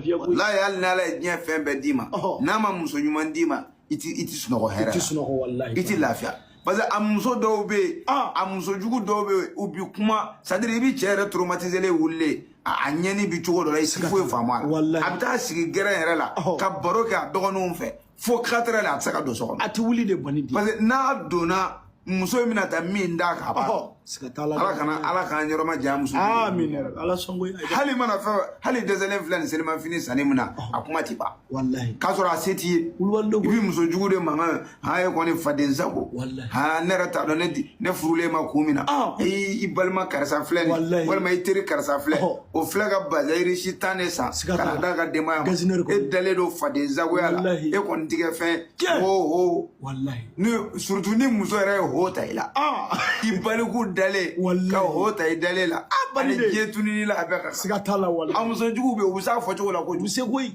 lafiya koyi wallahi hali n'ala ye diɲɛ fɛn bɛɛ d'i ma n'a ma muso ɲuman d'i ma i ti i ti sunɔgɔ hɛrɛ la i ti sunɔgɔ wallahi i ti lafiya parce que a muso dɔw bɛ yen a muso jugu dɔw bɛ yen u bi kuma c'est à dire i bi cɛ yɛrɛ traumatisé wulilen a ɲɛni bi cogo dɔ la i ti foyi faamu a la a bɛ taa sigi gɛrɛn yɛrɛ la ka baro kɛ a dɔgɔninw fɛ fo quatre heures la a tɛ se ka don so kɔnɔ a tɛ wuli de bɔnni di parce que n'a donna muso in bɛna ta min d'a kan a b'a siga t'a la ala kana ala k'an yɔrɔ ma janya muso amin ala sɔn ko hali mana fɛn hali dɛsɛlen filɛ nin selimafini sanni min na a kuma ti ban walahi k'a sɔrɔ a se t'i ye i bɛ muso jugu de mankan han e kɔni fadensago han ne yɛrɛ t'a dɔn ne ne furul'e ma kun min na i balima karisa filɛ nin walima i teri karisa filɛ o filɛ ka bazin riche tan de san ka na d'a ka denbaya ma e dalen don fadensagoya la e kɔni ti kɛ fɛn ho ho surtout ni muso yɛrɛ ye ho ta i la i baliku dalen ka ho ta i dalen la ani diɲɛ tununi la a bɛɛ ka siga t'a la wala a muso jugu bɛ yen u bɛ s'a fɔ cogo la ko u bɛ se koyi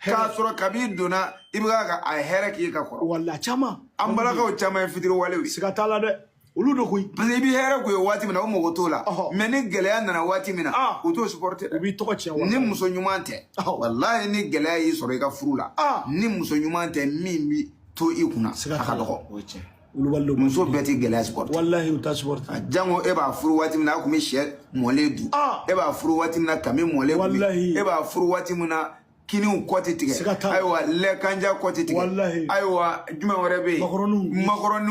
k'a sɔrɔ kabi i donna i bɛ ka a hɛrɛ k'i ka kɔrɔ wala caman an balakaw caman ye fitiriwalew ye siga t'a la dɛ olu de koyi parce que i bɛ hɛrɛ k'u ye waati min na o mago t'o la mais ni gɛlɛya nana waati min na u t'o supporter dɛ u b'i tɔgɔ tiɲɛ ni muso ɲuman tɛ walayi ni gɛlɛya y'i sɔrɔ i ka furu la ni muso ɲuman tɛ min bi to i kunna a ka dɔgɔ wulibali don muso bɛɛ ti gɛlɛya supporter walahi u t'a supporter jango e b'a furu waati min na a tun bɛ shɛ mɔlen dun e b'a furu waati min na kami mɔlen dun e b'a furu waati min na kiniw kɔ tɛ tigɛ ayiwa lɛkanja kɔ tɛ tigɛ ayiwa jumɛn wɛrɛ bɛ yen makɔrɔniw